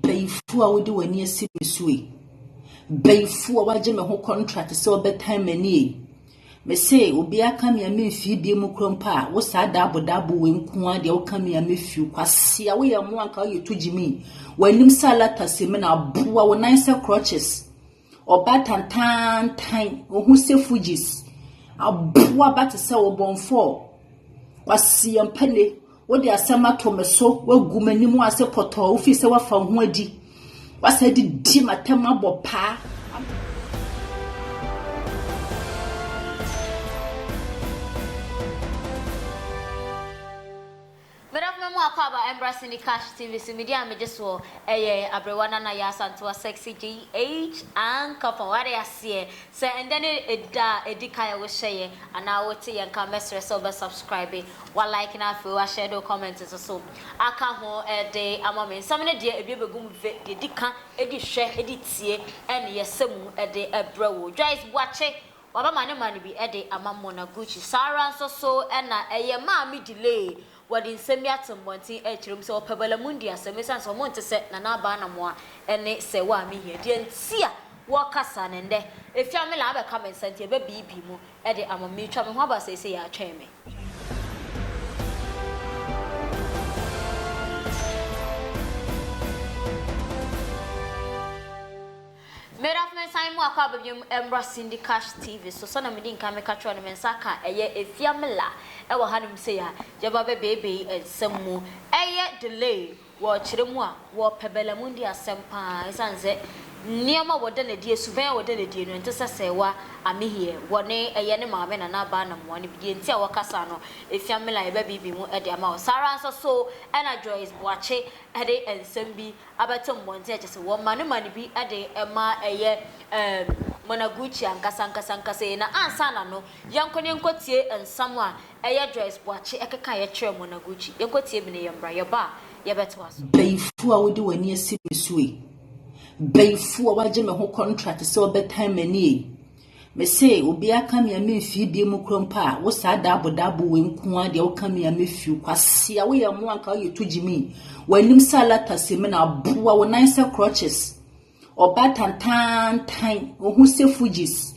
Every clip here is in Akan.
Bayifoɔ a wode w'ani asi me so yi bayifoɔ a wagye me ho contract sɛ ɔbɛtan m'ani yi mese obi aka me a memfie bie mu kura mpo a wo saa daabodabo wei nko a deɛ woka me a mefie kwase a woyɛ mmoa nka woyɛ to gyimi w'anim sɛ alata sɛ me na aboa wo nan sɛ crutches Ɔba tantaantan, ohu sɛ Fugees. Aboa ba te sɛ ɔbɔnfɔɔ. Kwasiampane, wode asɛm ato me so, woagu m'anim ase pɔtɔɔ, wofii sɛ woafa ho adi. Woasa de di m'atam abɔ paa. Meda koma mu akwaaba mbra Cindy Cash TV so midi a megye soɔ ɛyɛ Abrewa Nana Yaa Asantewaa Sexy GH Ankafɔn wate aseɛ sɛ ɛndɛ ne ɛda a ɛdi kan a wo hyɛyɛ anaa wo te yɛn nka mɛsrɛ sɛ wo bɛ subscribe wa like na afei wa share de wo comment nso so aka ho ɛde ama me nsɛm no deɛ ɛbie bɛgu mu vɛ deɛ ɛdi ka ɛdi hwɛ ɛdi tie ɛne yɛsɛ mu ɛde ɛbrɛ wo Joyce Boakye Wabɛma ne man bi de ama Mona Gucci. Saa ara nso so na ɛyɛ maa me delay. Wɔde nsɛm bi ato mmɔnten rekyerɛ mu sɛ wɔpɛ Balamundi asɛm esiane sɛ wɔnte sɛ Nana Aba Anamoah ne Sɛ Wo a Mehia. Deɛ nti a wɔreka saa no ɛnnɛ efi a me line abɛka me nsa nti ɛbɛbeebi mu de ama me. Meretwa me ho aba seesei yɛatwɛn me. Meda so mensan mu akɔ aba biom mbra Cindy Cash TV so sɛna medi nkan meka kyerɛ wo no mensa aka ɛyɛ Efiamila ɛwɔ hanom sei a yɛba bɛ beebei nsɛm mu ɛyɛ delay wɔ kyerɛ mu a wɔ pɛ bɛ la mundi asɛm paa ɛsan sɛ nneɛma wɔ da na die suvɛn a wɔ da na die no ɛnte sɛ sɛɛwa Amihie wɔ ne ɛyɛ ne maame na na baa na moa no bi deɛ nti a wɔ kasa no Efiamila yɛba beebei mu ɛde ama wo saa ara nso so ɛna Joyce Boakye ɛde nsɛm bi abɛto mmɔnten a kyerɛ sɛ wɔma no ma no bi de ma ɛyɛ ɛɛm Monaguchi ankasa ankasa ankasa yi. Na ansa na no, yɛnkɔ na yɛnkɔtie nsɛm a ɛyɛ Joyce Boakye kekaeɛ kyerɛɛ Monaguchi. Yɛnkɔtie bi na yɛmmra. Yɛba a, yɛbɛtoa so. Bayifoɔ a wode w'ani asi me so yi, bayifoɔ a wagye me ho contract sɛ ɔbɛtan m'ani yi, Me se obiaa ka me a me mfii bie mu kora mpo a wo saa daabo daabo wei nko ara deɛ woka me a me fiw kwasia woyɛ mmoa nka woyɛ to gyimi w'anim sɛ alata sɛ me na aboa wo nan sɛ crutches ɔba tantantan ohu sɛ fujis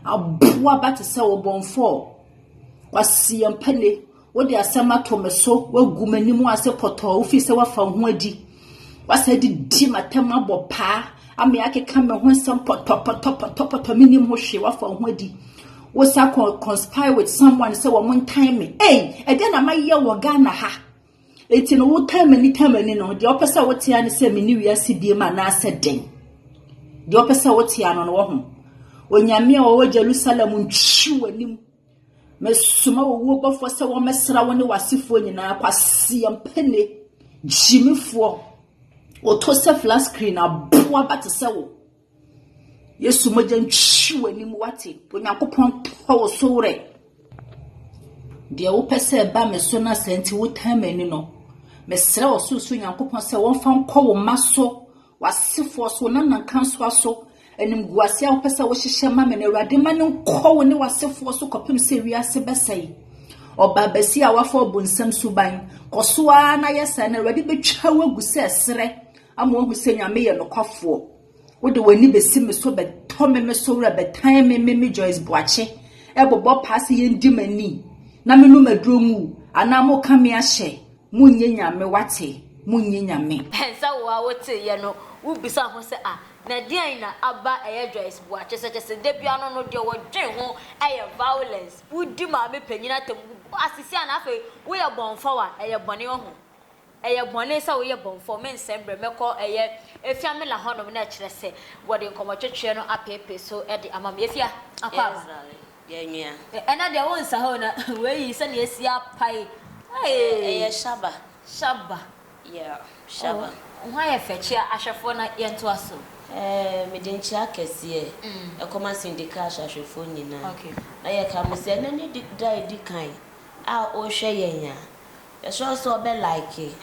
aboa ba te sɛ wo bɔnfɔɔ kwasia mpane Wode asɛm ato me so, woagu m'anim ase pɔtɔɔ, wofii sɛ woafa wo ho adi. Woasa de di m'atam abɔ paa, ama akeka me ho nsɛm pɔtɔpɔtɔpɔtɔpɔtɔ, menim ho hwee, woafa wo ho adi. Wosa kɔ conspire with someone sɛ wɔn ntan me. Ei, ɛdeɛ na mayɛ wɔ Ghana ha. Enti no wotan m'ani tan m'ani no, deɛ ɔpɛ sɛ wotea ne sɛ menni wiase biem anaasɛ dɛn? Deɛ ɔpɛ sɛ wotea no no wɔ ho. Onyame a ɔwɔ Jerusalem ntwi w'anim. Mesoma owuo bɔfoɔ sɛ wɔmmɛsra wo ne w'asefoɔ nyinaa kwaseɛmpɛne gyimifoɔ wɔtɔ sɛ flat screen aboa ba te sɛ wo yesu mogya ntwi w'anim wate onyankopɔn tɔ wo so werɛ deɛ wopɛ sɛ ɛba me so no asɛ nti wotaa m'ani no mesrɛ ɔsorosoro nyankopɔn sɛ wɔmfa nkɔ wo mma so W'asefoɔ so, wo nanankansoa so, animguaseɛ a wopɛ sɛ wohyehyɛ ma me no, Awurade ma no nkɔ wo ne w'asefoɔ so kɔpem sɛ wiase bɛsɛe. Ɔbaabasi a wafa ɔbonsam suban, kɔ so ara na yɛ saa, na Awurade bɛtwa wo agu sɛ serɛ ama wahu sɛ Nyame yɛ nokwafoɔ. Wode w'ani bɛsi me so, bɛtɔ me me so werɛ, bɛtan me me me Joyce Boakye, ɛbobɔ paa sɛ yɛndi m'ani na menom aduro ngu, anaa moka me ahyɛ. Monyɛ nyame wate, monyɛ nyame. Sɛ wo a wote yɛ no wo bisa ho sɛ ah na deɛn na aba ɛyɛ Joyce Boah kyesɛkyesɛ da bia no no deɛ wɔdwen ho ɛyɛ violence wo di maame panyin atam wo bɔ asisia na afei wo yɛ bɔnfɔw a ɛyɛ bɔne wahu ɛyɛ bɔne sɛ wo yɛ bɔnfɔw me nsɛm brɛ mɛkɔ ɛyɛ Efiamila hɔnom na ɛkyerɛ sɛ wɔde nkɔmɔtwetweɛ no apeepee so de ama me Efia akɔ aba. Yɛnwea. Ɛna deɛ wo nsa hoo na wei yi sɛdeɛ asi apae eii. Ɛyɛ shaba. Shaba. Yeah shaba. Oh ho ayɛ fɛ kyea ahwɛfoɔ na yɛn toa so. Ɛɛ mede nkyea kɛseɛ ɛkɔma Cindy Cash ahwɛfoɔ nyinaa na yɛ ka mo sɛ ɛnɛ ne da edi kan a ɔrehwɛ yɛn a yɛsrɛ wo sɛ ɔbɛ like,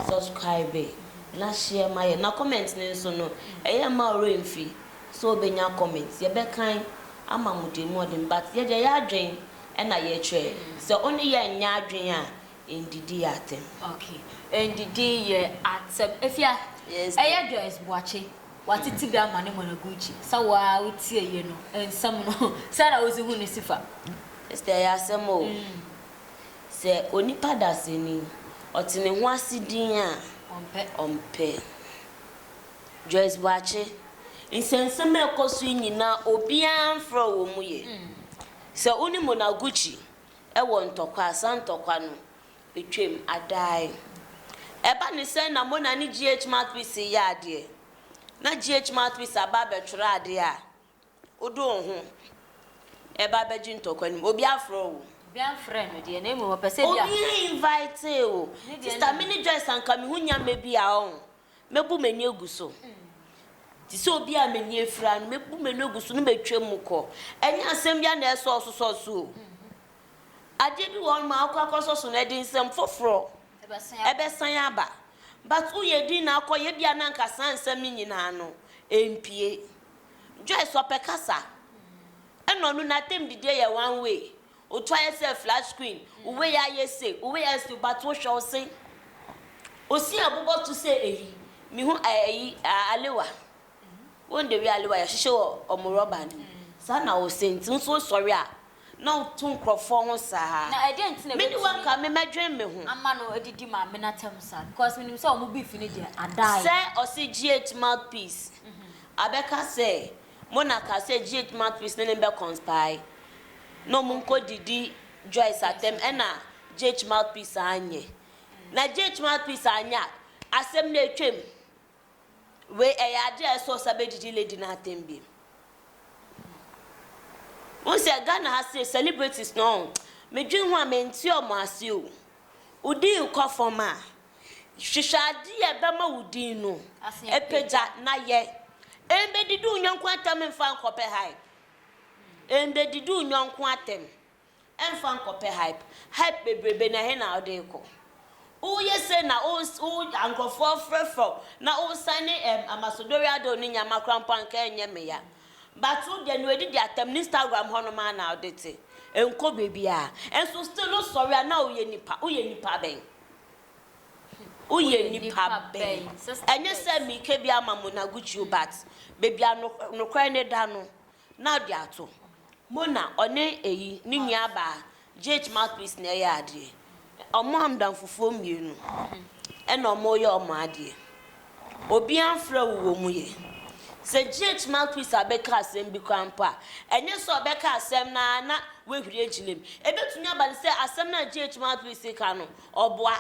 subscribe na share ma yɛn na comment no nso no ɛyɛ mma wo werɛ mfi So obenya comment? Yɛbɛkan ama mo deɛ mu ɔden but yɛdeɛ yɛ adwen ɛna yɛkyerɛ. Sɛ ɔne yɛ nnyɛ adwen a ndidi yɛ atɛm. Okay ndidi yɛ atɛm. Afia, ɛyɛ Joyce Boakye watete bi ama ne Monogucci sɛ wo ara wo tie yɛ no nsɛm no sɛn na wodze hu ne sifa? Esther ɛyɛ asɛm o. Sɛ onipa dasani, ɔte ne ho ase din a, ɔmpɛ. Joyce Boakye, Nsɛnsɛm a ɛkɔ so yi nyinaa obiara mfrɛ wɔ mu yɛ. Sɛ wo ne Monaguchi wɔ ntɔkwa a, saa ntɔkwa no twam adae. Ɛba ne sɛn na Mona ne GH Mouthpiece reyɛ adeɛ, na GH Mouthpiece aba abɛtwerɛ adeɛ a, Wode wo ho ɛba bɛgye ntɔkwa no mu. Obi afrɛ wo. Obi amfrɛ no deɛ na mmom ɔpɛ sɛ bi afrɛ. Obi invitee wo. Sista me ne Joyce anka me ho nya mɛ bi a ɔho mɛbu m'ani agu so. Te sɛ obi a m'ani afira no mɛbu m'ani agu so na matwa mu kɔ. Ɛnyɛ asɛm bi a na ɛsɔ wo so sɔ so o. Adeɛ bi wɔ hɔ nom a wokɔ akɔ sɔ so no ɛde nsɛm foforɔ ɛbɛsan aba. But woyɛ din na akɔ yɛ bi a na anka saa nsɛm no nyinaa no ɛmpue. Joyce ɔpɛ kasa ɛna ɔno natam didie yɛ one way otu ayɛ sɛ flat screen wo wei ayɛ se wo wei ayɛ se but wohwɛ wo se osin abobɔ to sɛ eyi mehu ɛyi alewa wɔn de wi alewa yɛhyehyɛ wɔ ɔmo rɔba no mu saa na wo se nti nso wosɔre a na wotu nkurɔfoɔ ho saa. Na ɛdeɛn nti na Mene wɔn ka me mɛdwen me ho. ama no adidi ma amenatam saa? Because menim sɛ wɔn beef no deɛ, adaeɛ. Sɛ ɔse GH mouthpiece abɛka sɛ mo na ka sɛ GH mouthpiece ne no bɛ conspire na wɔn nkɔ didi Joyce atɛm ɛna GH mouthpiece anyɛ. Na GH mouthpiece anyɛ a, asɛm no atwam. Wei ɛyɛ adeɛ a ɛsɛ ɔsa bɛdidi lady no atɛm bi. Wohu sɛ Ghana ha se celebrities no ɔn, medwen ho a mente ɔmo ase o. Wo din kɔ fam a, hwehwɛ adeɛ a ɛbɛma wo din no apagya na yɛ. Ɛmbɛdidi wo nyɔnko atɛm mfa nkɔpɛ high. Ɛmbɛdidi wo nyɔnko atɛm. Ɛmfa nkɔpɛ hype. Hype bebrebe no ɛhe na wode rekɔ? Woyɛ sei na wo wo nkurɔfoɔ afrɛfrɛ wo na wo san ne ɛm Amasodori Ado ne Nyama koraa mpo anka ɛnyɛ me ya. But wo deɛ nea ɔdidi atɛm no Instagram hɔ nom ara na wode te. Ɛnkɔ baabiara. Ɛnso still wo sɔre a na woyɛ nipa. Woyɛ nipa bɛn? Woyɛ nipa bɛn? Ɛnyɛ sɛ mereka bi ama mo na Gucci o but baabi a nokora nokorɛ no da no na ɔde ato mu na ɔne eyi ne nua baa JH mouthpiece na ɛyɛ adeɛ ɔmo amdanfofoɔ mmienu ɛna ɔmo yɛ ɔmo adeɛ obia nfrɛ wo wɔ mu yɛ sɛ JH mouthpiece abɛka asɛm bi koraa mpo a ɛnyɛ sɛ ɔbɛka asɛm no ara na wahuri agyina mu ɛbɛtumi aba no sɛ asɛm no a JH mouthpiece ka no ɔboa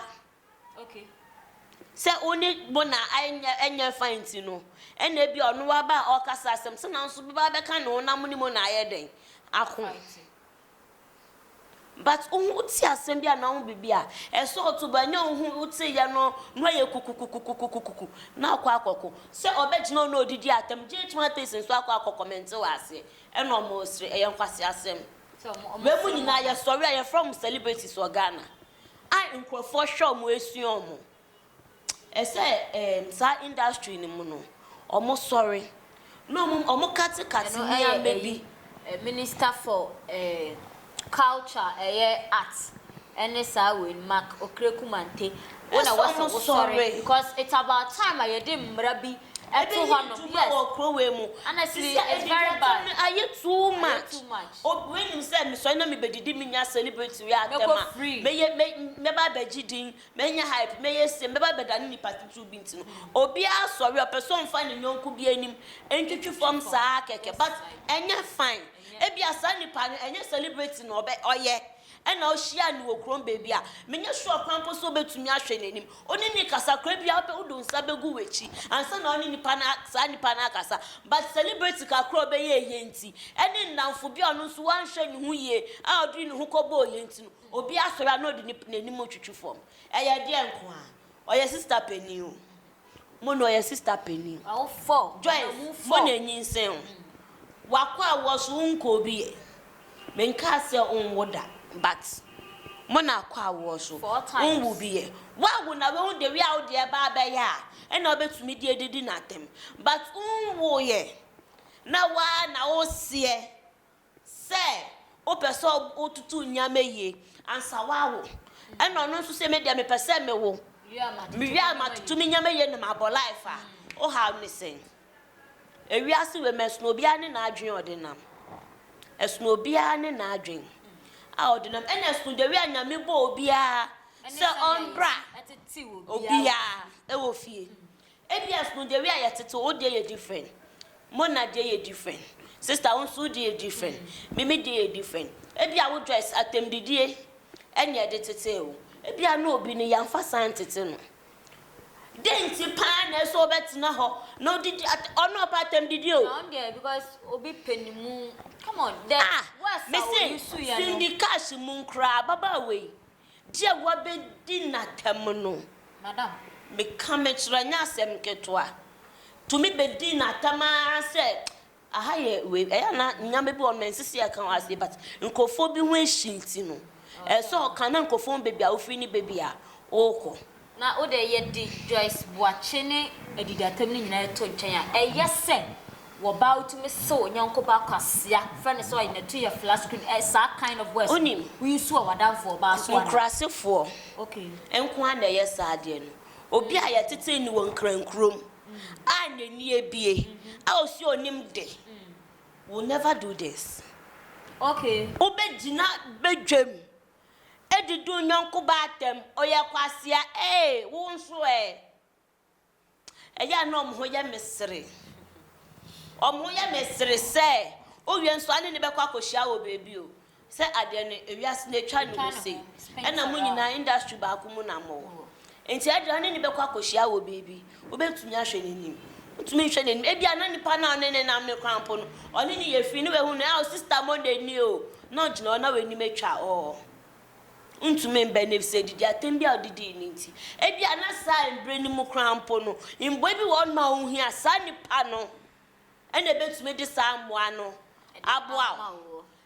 Sɛ wo ne Mona anyɛ anyɛ fine nti no, ɛna ebia ɔno waba a ɔrekasa asɛm. Sɛ nanso bɛba abɛka ne ho na mo ne Mona ayɛ dɛn ako? But wo ho te asɛm bi anaa wo ho biribi a, ɛsɛ ɔto bo. Ɛnyɛ wo ho woteeɛ no na woayɛ kukukukukukukuku na akɔ akɔko. Sɛ ɔbɛgyina hɔ na ɔdidi atɛm, Jay Chimwatese nso akɔ akɔ kɔmɛnte wɔ aseɛ ɛna wɔresere. Ɛyɛ nkwaseasɛm. Wei mu nyinaa yɛsɔre a yɛfrɛ wɔn celebrities wɔ Ghana. a nkurɔfoɔ hwɛ wɔn ɛsua wɔn ɛsɛ ɛɛm saa industry no mu no wɔn sɔre na wɔn wɔn kate kate ɛno ɛyɛ nneɛma bi. ɛyi minister for ɛɛm culture ɛyɛ art ɛne saa wei no mark okrekumante wo na ɛsɛ wɔn sɔre because it's about time a yɛde mmra bi Ɛtɔ hɔ nom yes Ɛna siri it's very bad Ayɛ too much Obi nim sɛ mesɔre na mebɛdidi menya celebrity yɛ atɛm a mɛyɛ mɛba abɛgye din mɛnya hype mɛyɛ sei mɛba abɛdane nipa titiriw bi nti no obiara sɔre a ɔpɛ sɛ ɔmfa ne yɔnko bi anim ntwitwi fam saa kɛkɛ but ɛnyɛ fine Ebia saa nipa no ɛnyɛ celebrity na ɔbɛ ɔyɛ Ɛnna ohyiaa no wɔ kurom baabi a menyɛ sure koraa mpo sɛ obetumi ahwɛ n'anim. Ɔne no rekasa koraa, ebia ɔbɛ wode wo nsa begu w'akyi ansa na ɔne nipa no a saa nipa no akasa. But celebrity kakra a ɔbɛyɛ eyi nti, ɛne nnamfo bi a ɔno nso wanhwɛ ne ho yie a ɔde ne ho kɔbɔɔ yɛn nti no, obi asɔre a na ɔde ne n'anim retwitwi fam. Ɛyɛ deɛn nko ara? Ɔyɛ sista panin o. Mo na ɔyɛ sister panin. Awofɔɔ. Joyce mo na enyinsɛn wo. Wakɔ a wɔ so wo nkɔ obi yɛ. Me nkaa sɛ wo nwo da but mo na akɔ a wɔ so wo nwo bi yɛ. Wawo na wahu the way a wo deɛ baa bɛyɛ a ɛna ɔbɛtumi de adidi no atɛm but wo nwo yɛ na waa na wo seɛ. Sɛ wopɛ sɛ wotutu nneɛma yie ansa woawo, ɛna ɔno nso sɛ me deɛ mepɛ sɛ mewo, mewie a matutu me nneɛma yie na mabɔ life a, wo haw ne sɛn? Ewiase wei mu, ɛsono obiara ne n'adwene a ɔde nam. Ɛsono obiara ne n'adwene a ɔde nam. Ɛna ɛsono the way a Nyame bɔɔ obiara sɛ ɔmbra obiara wɔ fie. Ebia so the way a yɛtete wo deɛ yɛ different, Mona deɛ yɛ different, sister wo nso wo deɛ yɛ different, Mimi deɛ yɛ different, ebia wo dress atɛmdidie ɛna yɛde tetee wo, ebia na obi no yɛamfa saa antete no. Dɛn nti pa ara na ɛsɛ sɛ wobɛtena hɔ na wodidi at ɔno ɔpɛ atɛmdidie o. Na ɔno deɛ because obi pɛ ne mu, come on the Ah! words a Mese wɔuse yɛ no. Cindy Cash mu koraa ababaawa yi Deɛ wabɛdi n'atam no, meka mekyerɛ, ɛnyɛ asɛm ketewa. Tumi bɛdi n'atam ara sɛ, aha yɛ wei, ɛyɛ a na nneɛma bi wɔ hɔ no, ɛnsɛ sɛ yɛka wɔ ha sei, but nkurɔfoɔ bi ho ahyi nti no, ɛsɛ sɛ ɔka na nkurɔfoɔ hu baabi a wofiri ne baabi a wokɔ. Na wo deɛ yɛde Joyce Boakye ne Adidatam no nyinaa to nkyɛn a, ɛyɛ sɛ wɔ baa wotumi sew onyɔnko baa kwasea, frɛ no sɛ ɔyɛ natu yɛ flat screen, ɛ saa kind of words no wonsuo a w'adamfo wɔ baa so anaa? Nkurasefoɔ nko ara na ɛyɛ saa adeɛ no. Obi a yɛtetee no wɔ Nkrankurom a n'ani abue a ɔsi ɔnim de will never do this. Wobɛgyina badwam Edi du nyɔnko baa ntam, ɔyɛ kwasea ee, wo nso ɛ? Ɛyɛ a na wɔn ho yɛ me sere. Wɔn ho yɛ me sere sɛ wowie nso a ne ne bɛkɔ akɔhyia wɔ baabi o, sɛ adeɛ no ewiase no atwa ne ho sei, ɛna mo nyinaa industry baako mu na mowɔ. Enti ɛnde ɔne no bɛkɔ akɔhyia wɔ baabi. Wobɛtumi ahwɛ n'anim? Wontumi nhwɛ n'anim. Ebia na nipa no a ɔne no nam no koraa mpo no, ɔne no yɛ fi, na wahu no, Ao, sista Monday nie o, na ɔgyina hɔ na w'anim atwa hɔ. Wontumi mmɛn no, efisɛ adidi atɛm bi a ɔde dii no nti. Ebia na saa mberɛ no mu koraa mpo no, mmoa bi wɔ hɔnom a wohia. Saa nipa no na ɛbɛtumi de saa mmoa no aboa wo.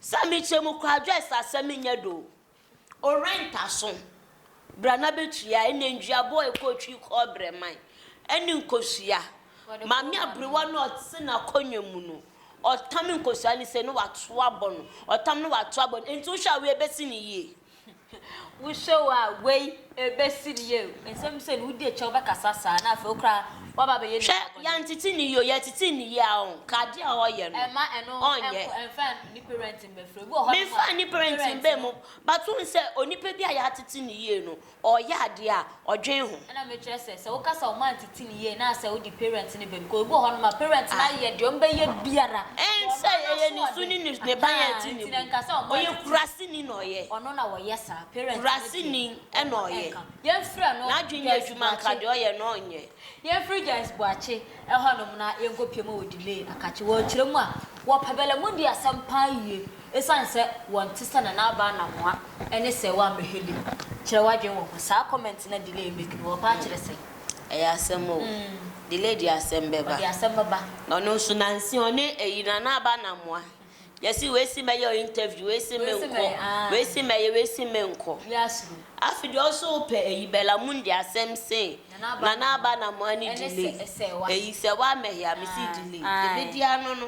Sɛ mekyɛ mu kwadwɛ sa sɛ menyɛ do Owura ntaso bra na bɛtua Ɛnɛ nduaboɔ ɛkɔ twi kɔɔbrɛ man ɛne nkosua Maame aberewa no ɔte n'akonnwa mu no Ɔtam nkosua no sɛ no wato abɔ no Ɔtam no wato abɔ no Enti wohwɛ a wei bɛsi no yie? Wo show a wei ɛbɛsi ni eo. Nsɛm sɛ no wodi akyire a wobɛkasa saa na afei wo koraa woaba abɛyɛ nipa bɔne. Hwɛ yɛntete no yie o yɛtete no yie a ɔn ka adeɛ a ɔyɛ no ɛma ɛno ɔnyɛ. Ɛnkɔ ɛnfa ne parent mbɛfrɛ obi wɔ hɔ nom a. Menfa ne parent mbɛ mu but wohu sɛ onipa bi a yɛatete no yie no Ɔɔyɛ adeɛ a, ɔdwen ho. Ɛna mekyerɛ sɛ, sɛ wo kasa ɔma ntete no yie na sɛ wo de parent no bem, cause ebi wɔ hɔ nom a parent no ayɛ deɛ ɔmo bɛyɛ biara ɛn sɛ ɛyɛ ne su ne ne ne ba yɛn ti ne bo ɔyɛ kurase ni na ɔyɛ ɔno na wɔyɛ saa parent no deɛ kurase ni ɛna ɔyɛ yɛn frɛ no n'adwen yɛ adwuma nka deɛ ɔyɛ no ɔnyɛ. Yɛn frɛ Joyce Boakye. Hɔnom na yenkopue ma wɔ'delay akakye wɔn kyerɛ mu a, wɔ'pɛ bɛlɛ mu di asɛm paa yie, esiane sɛ wɔ'nte sɛ Nana Aba Anamoah ne Sir Wah Meheli. Kyerɛ w'adwene wɔ ho, saa comment no a Delay make no, wɔ'pɛ akyerɛ sɛn? Ɛyɛ asɛm o, Delay de asɛm bɛba. Ɔde asɛm bɛba. Ɔno nso nansi ɔne ayi Nana Aba Anamoah Yɛse wei se mɛyɛ interview, wei se menkɔ, wei se mɛyɛ, wei se menkɔ. Afe deɛ wo so wopɛ eyi Bella Mundi asɛm se Nana Aba na mo ani delay eyi sɛ wa mɛhea mese delay deɛ bɛdi ano no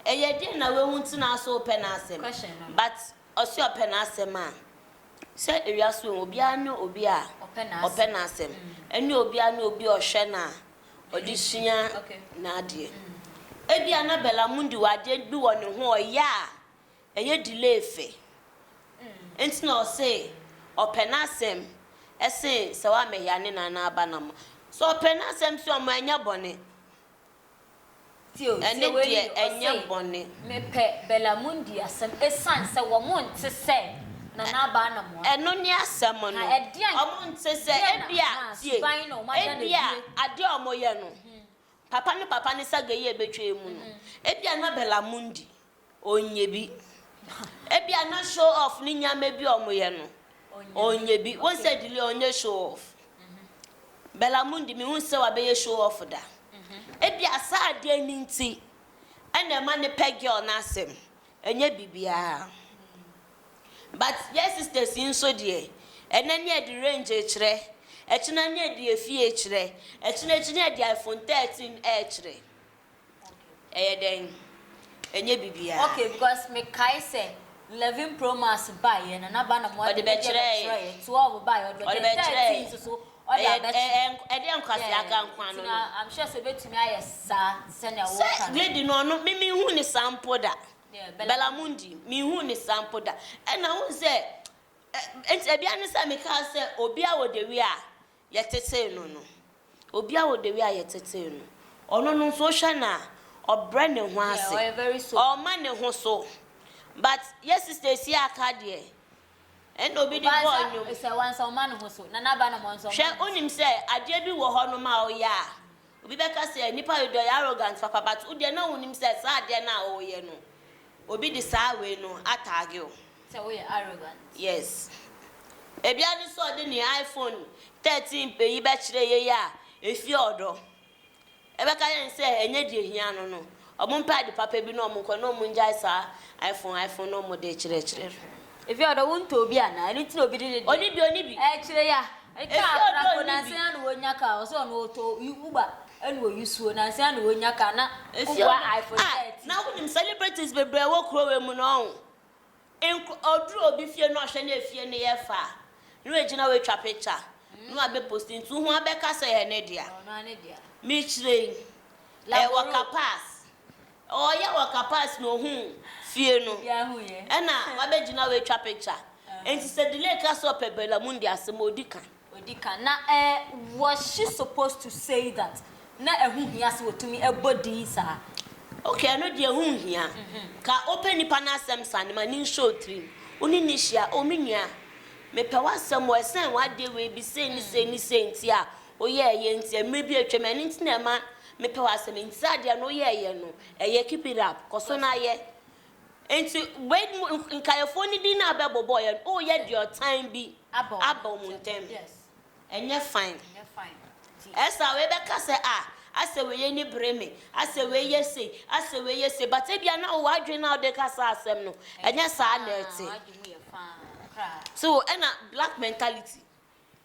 ɛyɛ deɛ na wahu nti na so wopɛ n'asɛm but ɔse ɔpɛ n'asɛm a sɛ ewiase wɔ obiara ne obi a ɔpɛ n'asɛm ɛne obiara ne obi a ɔhwɛ no a ɔde sua n'adeɛ. Ebia na Belamundi wɔ adeɛ bi wɔ ne ho a ɔyɛ a ɛyɛ delay fɛ. Nti na ɔse ɔpɛ n'asɛm sen sɛ wamɛhia ne nana aba no ama. Sɛ ɔpɛ n'asɛm so a, ɔma ɛnyɛ bɔne. ɛne deɛ ɛnyɛ bɔne. Mepɛ Bella Mundi asɛm ɛsiane sɛ wɔn nte sɛ Nana Aba Anamoah. Ɛno ne asɛm no. Na ɛdeɛn, Wɔn nte sɛ, deɛn na, ebia, na tie, suban na wɔn ada no ebia adie. adeɛ a wɔyɛ no, papa ne papa ne sagayi a ɛbɛtwa mu no, ebia na Bella Mundi ɔnyɛ bi. Ebia no show off ne nneɛma bi a wɔyɛ no, ɔnyɛ bi. Wohu sɛ Julie ɔnyɛ show off. Bella Mundi, mehu sɛ wabɛyɛ show off da. Ebia saa adeɛ no nti ɛna ɛma no pɛ girl no asɛm, ɛnyɛ biribiara. But yɛn sisters yi nso deɛ, ɛnnɛ ne yɛde range rekyerɛ, ɛkyena ne yɛde efie rekyerɛ, ɛkyena akyi ne yɛde iPhone 13 rekyerɛ. Ɛyɛ dɛn? Ɛnyɛ biribiara. Okay because me kae sɛ eleven pro max baeɛ no na ba na mo ɔde bɛkyerɛɛ twelve baeɛ ɔde bɛkyerɛɛ thirteen nso so ɔde abɛkyerɛ ɛdeɛ nkwasi aka nko ano no I'm sure sɛ obetumi ayɛ saa sɛnea wɔka no sɛ lady no ɔno me me hu ne saa mpo da Belamundi me hu ne saa mpo da ɛna wohu sɛ ɛnti ɛbia ne sɛ me kaa sɛ obi a ɔde wia yɛtetee no no. Obiara wɔ the way a yɛtetee no. Ɔno no nso wohwɛ no a, ɔbrɛ ne ho ase. Ɔmma ne ho so. But yɛ sister Esie aka deɛ, ɛna obi de bɔɔ nnwom. Hwɛ, wonim sɛ adeɛ bi wɔ hɔnom a woyɛ a, Obi bɛka sɛ nnipa dodoɔ yɛ arrogant papa but wo deɛ na wonim sɛ saa adeɛ no a woyɛ no obi de saa wei no atagge wo. Sɛ woyɛ arrogant. Yes. Ebia no sɛ ɔde ne iPhone 13 pɛ yi bɛkyerɛ yɛn a ɛfie ɔdɔ. Ɛbɛka yɛn sɛ ɛnyɛ deɛ ɛhia no no. Wɔmpɛ ade papa bi na wɔnkɔ na wɔngyae saa iPhone iPhone no a wɔde rekyerɛkyerɛ no. Efi ɔdɔ wontɔ obi anaa? Ɛno nti na obi de ne deɛ. Ɔni bi ɔni bi. Ɛkyerɛ ya. Efi ɔdɔ ɔni bi. Nansa na wɔnya car ɔsɛ ɔno ɔtɔ Uber ɛna ɔyi suo nansa na wɔnya car na koboa iPhone 13. Ah na wonim celebrities bebree wɔ kuro wei mu no ɔho. Nk ɔduru obi fie na ɔhwɛ na efie no yɛ fɛ a, na wagyina hɔ atwa picture na wabɛposti nti wohu abɛka sɛ ɛyɛ ne dea. Mekyerɛ yi, ɛyɛ wɔ Kapaas. Ɔreyɛ wɔ Kapaas na ohuu fie no ɛna wabɛgyina hɔ atwa picture. Nti sɛ Delay ka sɛ ɔpɛ Bella Mundi asɛm a, ɔdi kan. odi kan na eh was she supposed to say that na ɛho hia sɛ ɔtumi bɔ din saa. Ok ɛno deɛ ɛho nhia, ka wopɛ nipa no asɛm sane ma no nhyɛ wo tirim, wo ne no hyia, oh me nua mepɛ w'asɛm o ɛsɛn w'adeɛ wei bi sei ne sei ne sei nti a woyɛɛyɛ nti a mmerɛ bi atwam ɛno nti na ɛma mepɛ w'asɛm nti saa adeɛ no woyɛɛyɛ no ɛyɛ keep it up kɔso na yɛ. Enti wei mu nkaeɛfoɔ no din no a bɛbobɔeɛ no, woreyɛ deɛ ɔtan bi aba wɔn ntam. Ɛnyɛ fine. Ɛsa wei bɛka sɛ ah, asɛ wei ani bere me, asɛ wei yɛ sei, asɛ wei yɛ sei, but ebia na wowɔ adwene no a wode reka saa asɛm no, ɛnyɛ saa na ɛte. So ɛna black mentality.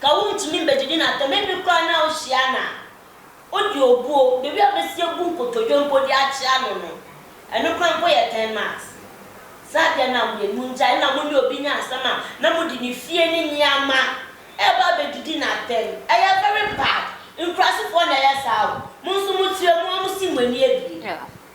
Ka wontumi mbegyegye no atam, ebi koraa na ohyia no a, odi obuo, beebi a obesi egu nkotodwe mpo dze akye ano no, ɛno koraa mpo yɛ ten miles. Saa adze no a wɔyɛ no, nkyɛ nna mo nye obi nya asɛm a na mode ne fie ne nyeɛma reba abegyegye no atam. Ɛyɛ very bad. Nkurasefoɔ na ɛyɛ saa o. Mo nso mo kyerɛ mu a, mo si mo ani abien.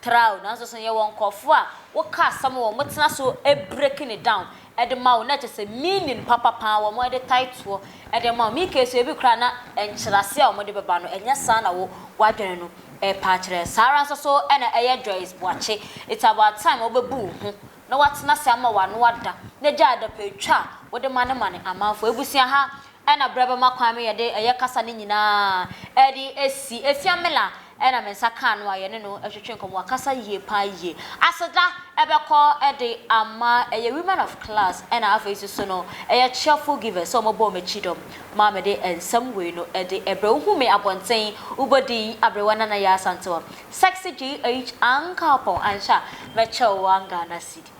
Tra o, nanso so yɛwɔ nkurɔfoɔ a woka asɛm wɔn mo tena so breaking it down de ma wo na kyerɛ sɛ meaning papa paa wɔn de tae toɔ de ama wo? Me case ebi koraa na nkyerɛaseɛ a wɔn de bɛba no ɛnyɛ saa na wo w'adwene no repa akyerɛ. Saa ara nso so na ɛyɛ Joyce Boakye, it's about time a wobɛbu wo ho na woatena ase ama w'ano ada na gyae adapɛtwa a wode mane mane amanfoɔ. Abusua ha Ɛna berɛ bɛma kwan me yɛde ɛyɛ kasa no nyinaa ɛde asi Efya Miller ɛna me nsa kaa no a yɛne no ɛtwetwe nkɔmmɔ wakasa yie paa yie aseda ɛbɛkɔ ɛde ama ɛyɛ women of class ɛna afei nso so no ɛyɛ cheerful givers sɛ wɔbɔɔ m'akyi dɔm maa mede nsɛm wei no ɛde ɛbrɛ wo hu me abɔnten wo bɔ din abrewa nana yɛ Asantewaa sexy GH Ankapɔn anhwɛ a mɛkyɛ wo one Ghana cedi